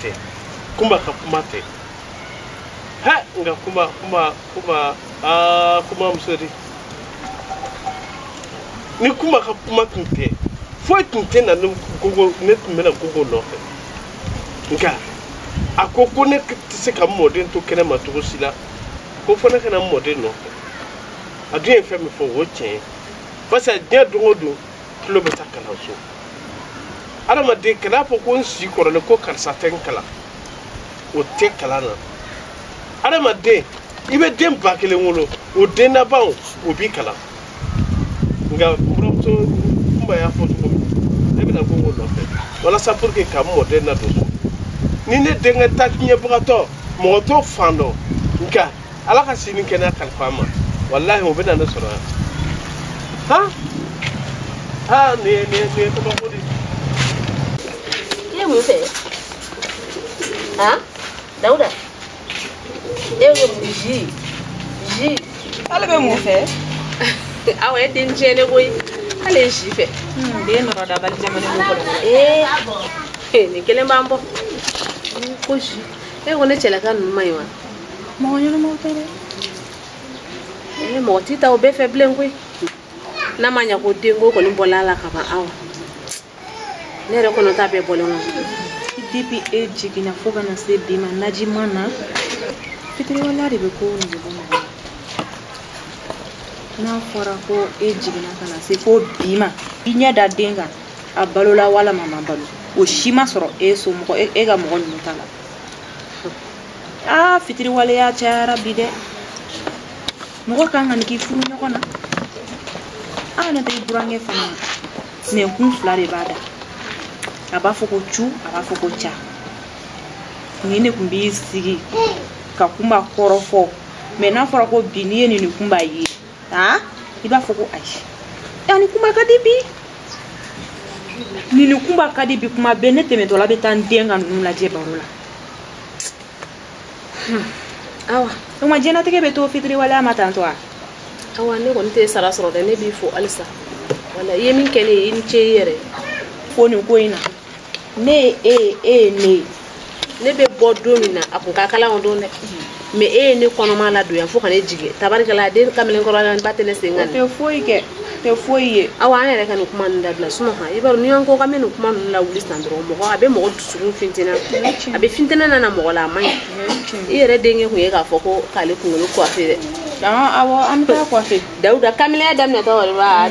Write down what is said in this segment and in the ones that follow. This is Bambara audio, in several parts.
te kuma ka kuma te ha nga kuma kuma kuma ah kuma musori ni kunba ka kuma tun tɛ foyi tun tɛ na ni gogo ne tun bɛna gogo nɔfɛ nka a ko ko ne tɛ se ka mɔden to kɛnɛ ma cogo si la ko fo ne ka na mɔden nɔfɛ a dun ye fɛn min fɔ o ye tiɲɛ ye barisa diɲɛ don o don tulo bɛ taa kalanso adamaden kan'a fɔ ko n si kɔrɔlen ko karisa tɛ n kalan o tɛ kalan na adamaden i bɛ den ba kelen wolo o den labanw o b'i kalan nka buranmuso kunba y'a fɔ cogo min ne bɛna gogo nɔfɛ walasa pour que ka n mɔden ladon so ni ne denkɛ ta tiɲɛbagatɔ mɔgɔ t'o fan dɔn nka ala ka sini kɛnɛya kalifa an ma walahi o bɛna ne sɔrɔ yan han aa nin ye nin ye nin ye kabako de ye. ye mun fɛ han dawuda e bɛ mun zi zi ale bɛ mun fɛ awa e den tiɲɛnen koyi ale ye zi fɛ den nɔrɔ dabali jamana ko kɔrɔ ee nin kelen b'an bɔ ko zi e ko ne cɛlaka ninnu man ɲi wa mɔgɔ ɲɛnamaw tɛ dɛ ee mɔgɔ t'i ta o bɛɛ fɛ bilen koyi n'a ma ɲa ko denko kɔni bɔla a la ka ban awa ne yɛrɛ kɔnɔ ta bɛɛ bɔlen kɔnɔ depuis e jiginna fo ka na se bi ma naji ma na fitiriwaleya de bɛ ko nege bɔ mɔgɔ la n'a fɔra ko e jiginna ka na se fo bi ma i ɲɛ da den kan a balola walima a ma balo o si ma sɔrɔ e somɔgɔ e ka mɔgɔ ninnu ta la aa fitiriwaleya cayara bi dɛ mɔgɔ kana nin k'i furuɲɔgɔn na aa n'o tɛ i burankɛ fana nɛnkun fila de b'a da a b'a fɔ ko cu a b'a fɔ ko ca nin de tun b'i sigi ka kunba kɔrɔfɔ mɛ n'a fɔra ko bi n'i ye nin ni kunba ye aa i b'a fɔ ko ayi a ni kunba ka di bi nin ni kunba ka di bi kuma bɛɛ ne tɛmɛtɔla bɛ taa n den ka ninnu lajɛ baro la hmm. awa o ma diɲɛnatigɛ bɛ to fitiriwaleya ma tantɔ a awa ne kɔni tɛ sara sɔrɔ dɛ ne b'i fo halisa walahi i ye min kɛ ne ye i ni ce i yɛrɛ fo nin ko in na ne ye e ye e ye ne ye ne bɛ bɔ don min na a kun ka kalan o don dɛ mɛ e ye ne kɔnɔma ladon yan fo ka ne jigin tabarikala den kamalen kɔrɔla ba tɛ ne sen kan tɛ foyi kɛ tɛ foyi ye awa an yɛrɛ ka nin kuma ninnu dabila su in na han i b'a dɔn n'i y'an ko k'an bɛ nin kuma ninnu lawuli san dɔrɔn mɔgɔ a bɛ mɔgɔ dusukun fitinɛ a bɛ fitinɛ nana mɔgɔ la a man ɲi i yɛrɛ denkɛ kun ye k'a fɔ ko k'ale kunkolo coiffer dɛ awɔ an bɛ taa coiffer dawuda kamalenya daminɛtɔ wari b'a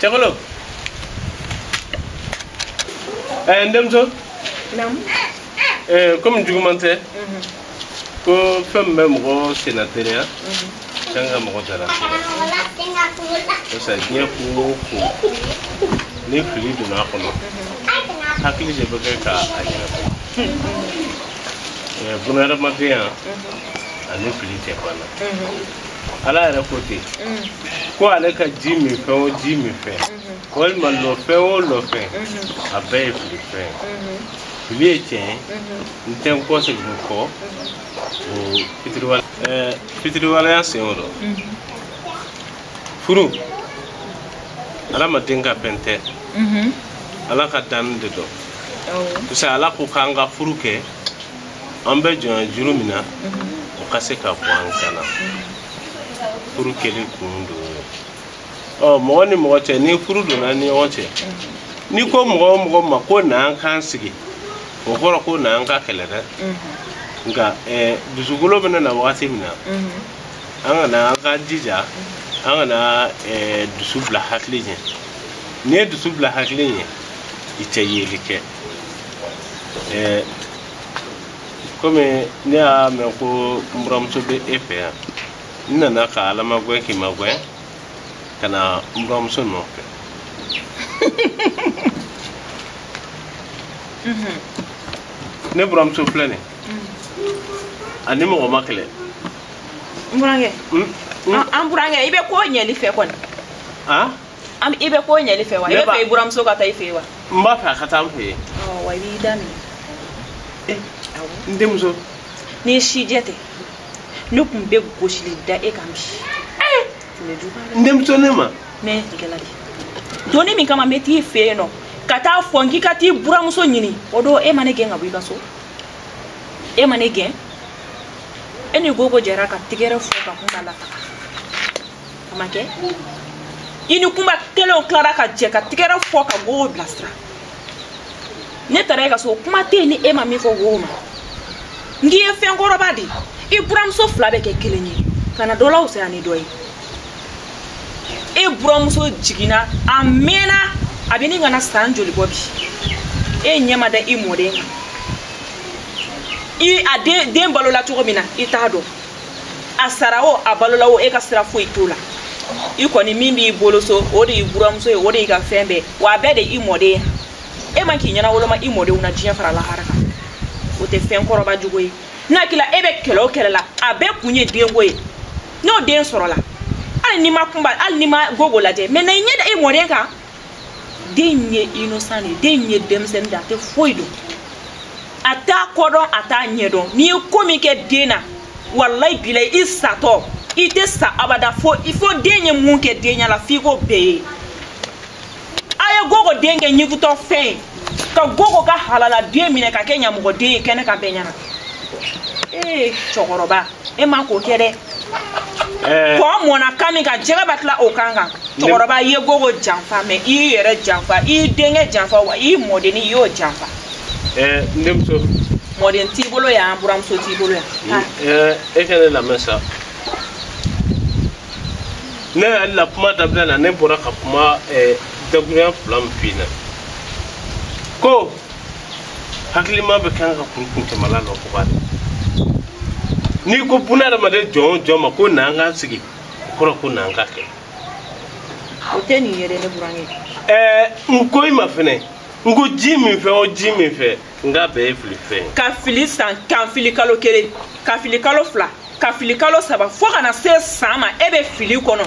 Cɛkolo. Ɛɛ n denmuso. Naamu. Ɛɛ komi juguman tɛ. Mhm. Ko fɛn min bɛ mɔgɔ senna teriya. Mhm. Kan ka mɔgɔ dara. Barisa diɲɛ ko o ko ni fili donna a kɔnɔ mhm. hakili de bɛ kɛ ka a ɲɛnabɔ. Ɛɛ bunadamadenya ani fili tɛ ban na. ala yɛrɛ ko ten ko ale ka ji min fɛn o ji min fɛn walima lɔfɛn o lɔfɛn a bɛɛ ye fili fɛn fili ye tiɲɛ ye n tɛ n kɔ segin kɔ o fitiriwale ɛɛ fitiriwaleya sen o dɔ furu adamaden ka fɛn tɛ ala ka danni de don parce que ala ko k'an ka furu kɛ an bɛ jɔnya juru min na o ka se ka bɔ an kan na furu kɛli kun dɔ ye o mɔgɔ ni mɔgɔ cɛ ni furu donna ni ɲɔgɔn cɛ n'i ko mɔgɔ o mɔgɔ ma ko na an k'an sigi o kɔrɔ ko na an ka kɛlɛ dɛ nka eh, dusukolo bɛna na wagati min na an kana an ka jija an kana eh, dusu bila hakili ɲɛ n'i ye dusu bila hakili ɲɛ i tɛ yeli kɛ ɛɛ kɔmi ne y'a mɛn ko n buramuso bɛ e fɛ yan n nana ka ala magɛn k'i magɛn ka na n buramuso nɔfɛ ne buramuso filɛ nin a ni mɔgɔ ma kɛlɛ n burankɛ an burankɛ i bɛ ko ɲɛli fɛ kɔni an i bɛ ko ɲɛli fɛ wa i b'a fɛ i buramuso ka taa i fɛ yen wa n b'a fɛ a ka taa n fɛ yen wa i b'i da minɛ n denmuso n'i sijɛ tɛ ne tun bɛ gosili da e kan bi n denmuso ne ma ne tigɛla de doni min kama n bɛ t'i fɛ yen nɔ ka taa fɔ n k'i ka t'i buramuso ɲini o don e ma ne gɛn ka bɔ i ka so e ma ne gɛn e ni gogo jɛra ka tigɛrɛ fɔ ka kumba lataga a ma kɛ i ni kumba kelenw tilara ka jɛ ka tigɛrɛ fɔ ka gogo bilasira ne taara e ka so kuma tɛ yen ni e ma min fɔ gogo ma n k'i ye fɛn kɔrɔba de i buramuso fila bɛ kɛ kelen ye kana dɔ lafisaya ni dɔ ye e buramuso jiginna a mɛnna a bɛ ɲini ka na san joli bɔ bi e ɲɛ ma da i mɔden kan i a den den balola cogo min na i t'a dɔn a sara o a balola o e ka sira foyi t'o la i kɔni min b'i bolo so o de y'i buramuso ye o de y'i ka fɛn bɛɛ wa a bɛɛ de i mɔden e man k'i ɲɛnawoloma i mɔdenw na diɲɛ fara lahara kan o tɛ fɛn kɔrɔba jugu ye n'a kɛla e bɛ kɛlɛ o kɛlɛ la a bɛɛ kun ye denko ye n'o den sɔrɔla hali n'i ma kunba hali n'i ma gogo lajɛ mɛ na i ɲɛ da i mɔden kan den ye innocent de ye den ye denmisɛn de a tɛ foyi dɔn a t'a kɔ dɔn a t'a ɲɛ dɔn n'i ye ko min kɛ den na walayi bilayi i satɔ i tɛ sa abada fo i fo den ye mun kɛ den ɲɛ la f'i k'o bɛɛ ye a ye gogo den kɛ ɲigutɔ fɛn ye ka gogo ka halala den minɛ ka kɛ ɲamɔgɔden ye kɛnɛ kan bɛɛ ɲɛna ee cɛkɔrɔba e man k'o kɛ dɛ eh. kɔ mɔnna kan min kan jɛgɛ b'a tila o kan kan cɛkɔrɔba i ye gogo janfa mɛ i y'i yɛrɛ janfa i y'i denkɛ janfa wa i mɔdennin i y'o janfa eh, n denmuso mɔden t'i bolo yan buramuso t'i bolo yan eh, e ka ne lamɛn sa ne yɛrɛ la kuma daminɛ na ne bɔra ka kuma dakuruɲa fila min f'i ɲɛna ko hakilima bɛɛ kan ka kurun kun tɛmɛla nɔ ko b'a n'i ko buna adamaden jɔn o jɔn ma ko na an k'an sigi o kɔrɔ ko na an ka kɛ o tɛ nin ye dɛ ne burankɛ ɛɛ n ko i ma fɛnɛ n ko ji min fɛ o ji min fɛ nka bɛɛ ye fili fɛn ye ka fili san ka fili kalo kelen ka fili kalo fila ka fili kalo saba fo ka na se san ma e bɛ fili kɔnɔ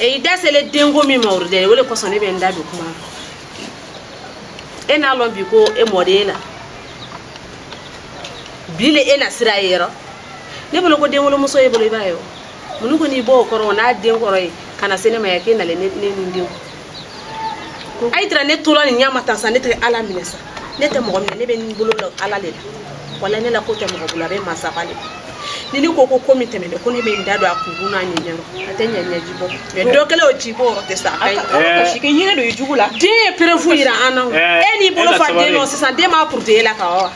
i da sele denko min ma o de o le kosɔn ne bɛ n da don kuma e n'a lɔn bi ko e mɔden na bi le e na siran yɔrɔ ne bolo ko denwolomuso y'e bolo i b'a ye o mun ko n'i b'o kɔrɔ o n'a den kɔrɔ yen ka na se ne ma yan k'e nalen ne ni den a ye tira ne tola nin ɲa ma tan sa ne tɛ ala minɛ sa ne tɛ mɔgɔ minɛ ne bɛ n bolo la ala de la wala ne la ko tɛ mɔgɔ bolo a bɛ masaba de ni ne ko ko ko min tɛmɛna ko ne bɛ n da don a kunkun n'a ɲɛɲɛ rɔ a tɛ ɲɛ ɲɛji bɔ mɛ dɔ kɛlen o ji bɔ o tɛ sa a kasi kɛ yɛrɛ don i jugu la den ye preuve yira an na e n'i bolo fa den nɔ sisan den b'a purute e la ka wa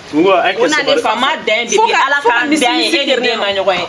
o na ne fa ma dan de bi ala ka dan ye e ni den ma ɲɔgɔn ye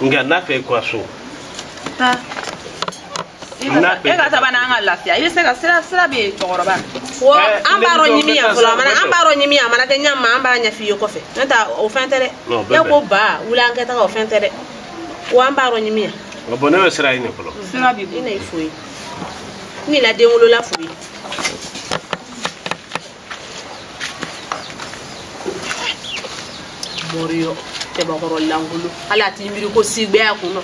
nka n'a fɛ i kura so taa e ka saba n'an ka lafiya i bɛ se ka sira sira bɛ yen cɛkɔrɔba ko an b'a rɔ ɲimi yan fɔlɔ a mana an b'a rɔ ɲimi yan a mana kɛ ɲɛ ma an b'a ɲɛf'i ye kɔfɛ n'o tɛ o fɛn tɛ dɛ ne ko ba wuli an ka taga o fɛn tɛ dɛ wa an b'a rɔ ɲimi yan. nka bɔn ne bɛ sira ɲini fɔlɔ. sira b'i bolo i na i fo yen n'i la den wolola fo yen. mɔriyɔ cɛbakɔrɔ lankolo hali a t'i miiri ko si gbɛ y'a kun nɔ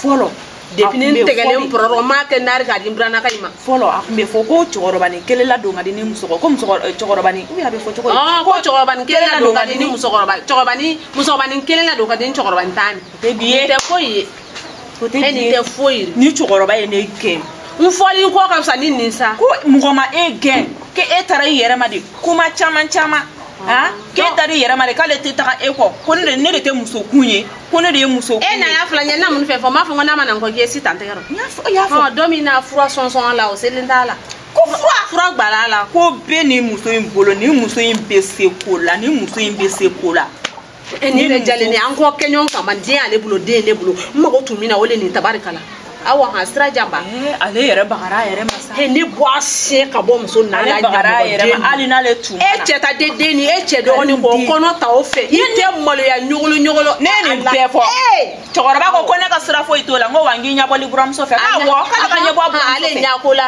fɔlɔ depuis ne tɛgɛlen pɔrɔrɔ m'a kɛ nari k'a di nburanaka in ma fɔlɔ a tun bɛ fɔ ko cɛkɔrɔbanin kelen ladon ka di ni musokɔrɔba ko eh, cɛkɔrɔba ni ou bien a bɛ fɔ cogo ah, ko cɛkɔrɔbanin kelen ladon ka di ni musokɔrɔba cɛkɔrɔba ni musokɔrɔbanin kelen ladon ka di ni cɛkɔrɔbanin tan ni tɛ bi ye tɛ foyi ye o tɛ e nin tɛ foyi ni cɛkɔrɔba ye ne gɛn n fɔli n kɔ ka fisa ni nin sa ko mɔgɔ ma e gɛn k'e taara i yɛrɛ ma de kuma caman caman han k'e taara i yɛrɛ ma de k'ale tɛ taga e kɔ ko ne de ne de tɛ muso kun ye ko ne de ye muso kun ye e na y'a fila ɲɛ na mun fɛ fɔ n b'a fɔ ko n'a ma na n kɔ k'i ye si tan tɛgɛ rɔ n y'a fɔ i y'a fɔ don min na fura sɔnsɔn a la o selen t'a la ko fura fura gbala a la ko bɛ nin muso in bolo nin muso in bɛ se ko la nin muso in bɛ se ko la e ni ne jalen ni an k'o kɛ ɲɔgɔn kama den y'ale bolo den ne bolo n mago tun min na o le nin tabarikala awa han sira janba eh, ale yɛrɛ bagara a yɛrɛ ma sa he ne bɔ a sen ka bɔ muso nana ale bagara a yɛrɛ ma hali n'ale tun e cɛ ta den den ni e cɛ dɔgɔnin bɔ kɔnɔ ta o fɛ i tɛ maloya ɲogolo ɲogolo ne ye nin bɛɛ fɔ cɛkɔrɔba ko ko ne ka sira foyi t'o la n ko wa n k'i ɲɛbɔli buranmuso fɛ ko awɔ k'ale k'a ɲɛbɔ ale ɲako la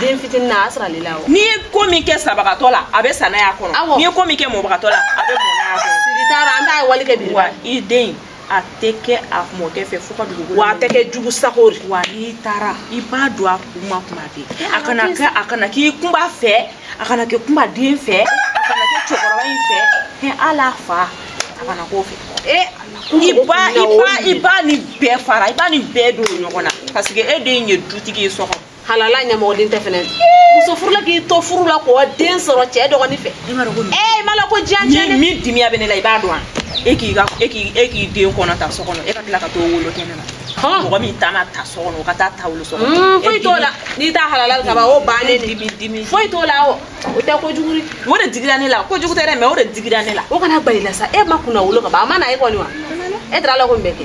den fitinin na a sɔrɔ ale la o n'i ye ko min kɛ sabagatɔ la a bɛ sa n'a y'a kɔnɔ Awɔ. n'i ye ko min kɛ mɔbagatɔ la a bɛ mɔ n'a y'a kɔnɔ siga t'a la an t'a ye wali kɛ bi wa i den a tɛ kɛ a mɔkɛ fɛ fo ka dugukolo wa a tɛ kɛ jugu sago de wa n'i taara i b'a don a kun ma kuma bɛɛ a kana kɛ a kana kɛ kunba fɛ a kana kɛ kunba den fɛ a kana kɛ cɛkɔrɔba in fɛ hɛ ala fa a kana k'o fɛ ee i ba i ba i ba ni bɛɛ fara i ba ni bɛɛ don ɲɔgɔn na parce que e den ye dutigi ye so kɔnɔ halala ɲamɔgɔden tɛ fɛnɛ muso furula k'i to furu la k'o den sɔrɔ cɛ dɔgɔnin fɛ ee i ma la ko diya cɛ ni min dimi bɛ ne la i b'a dɔn wa e k'i ka e k'i e k'i den kɔnɔ ta so kɔnɔ e ka tila ka t'o wolo kɛnɛ na mɔgɔ min ta ma ta so kɔnɔ o ka taa t'a wolo so kɔnɔ hmm, foyi t'o la n'i t'a halala ka ban o bannen de dimi dimi foyi t'o la o o tɛ kojugu ye o de digira ne la kojugu tɛ dɛ mɛ o de digira ne la o kana bali la sa e ma kunnawolo ka ban a ma na e kɔni wa e taara la ko nin bɛ kɛ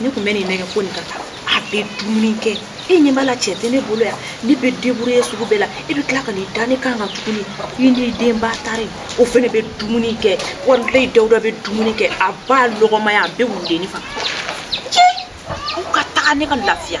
ne tun bɛ nin nɛgɛn ko nin ka taa a bɛ dumuni kɛ e ɲɛ b'a la cɛ tɛ ne bolo yan ne bɛ deburuye sugu bɛɛ la e bɛ tila ka nin da ne kan ka tuguni i ni denba taara o fɛnɛ bɛ dumuni kɛ walayi dawuda bɛ dumuni kɛ a b'a lɔgɔmaya a bɛ wuli ne fana cɛ u ka taga ne ka lafiya